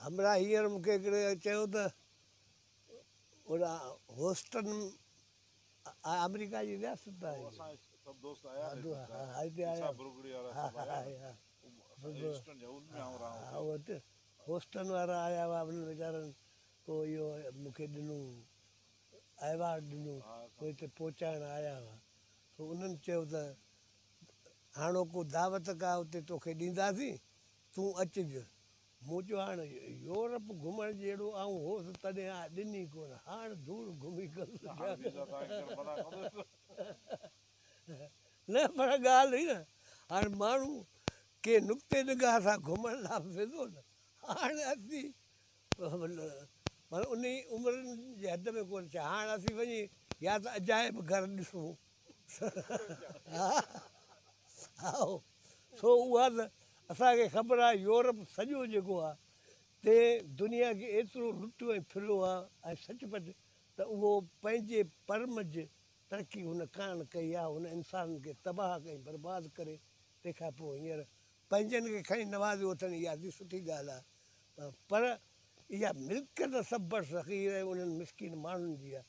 همراهه هينئر مون کي هڪڙي چيو ته ان هوسٽن آمريڪا جي رياست آهي. هوسٽن وارا آيا هئا انهن ويچارن پوء اهو مون کي ڏنو ايوارڊ ڏنو پوء هتي پهچائڻ آيا هئا پوء انهن چيو ته هاڻوڪو دعوت ڪا اتي توکي ڏينداسين، تون اچج. مون چيو، هاڻ يورپ گهمڻ جهڙو آئون هوس تڏهن آء ڏني ڪونه. هاڻ دور گهمي نه پر ڳالهه هئي نه هاڻ ماڻهو ڪنهن نقطي نگاهه سان گهمڻ لاء به ويندو نه. هاڻ اسين انهي عمر جي حد ۾ ڪونه ڇا هاڻ اسين وڃي يا ته عجائب گهر ڏسون ها هائو سو اها ته اسان کي خبر آهي يورپ سڄو جيڪو آهي تي دنيا کي ايترو لٽيو ۽ ڦريو آهي ۽ سچ پچ ته اهو پنهنجي پرمج ترقي هن ڪانه ڪئي آهي هن انسانن کي تباهه ڪئي برباد ڪري تنهن کان پوء هينئر پنهنجن کي کڻي نوازيو اٿن اها ادي سٺي ڳالهه آهي پر اها ملڪيت سڀ بر صغير ۽ انهن مسڪين ماڻهن جي آهي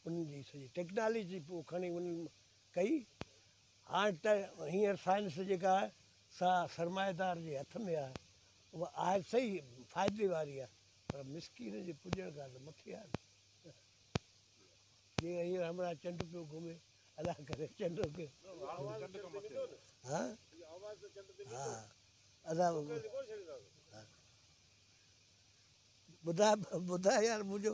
انهن جي سڄي ٽيڪناليجي پوء کڻي انهن ڪئي. هاڻ ته هينئر سائنس جيڪا آهي سا سرمائيدار جي هٿ ۾ آهي. اها آهي صحيح فائدي واري آهي پر مسڪين جي پڄڻ کان ته مٿي آهي نه. جيئن هينئر همراهه چنڊ پيو گهمي ادا ڪري چنڊ کي. ها ها ادا ٻڌاء ٻڌاء يار منهنجو.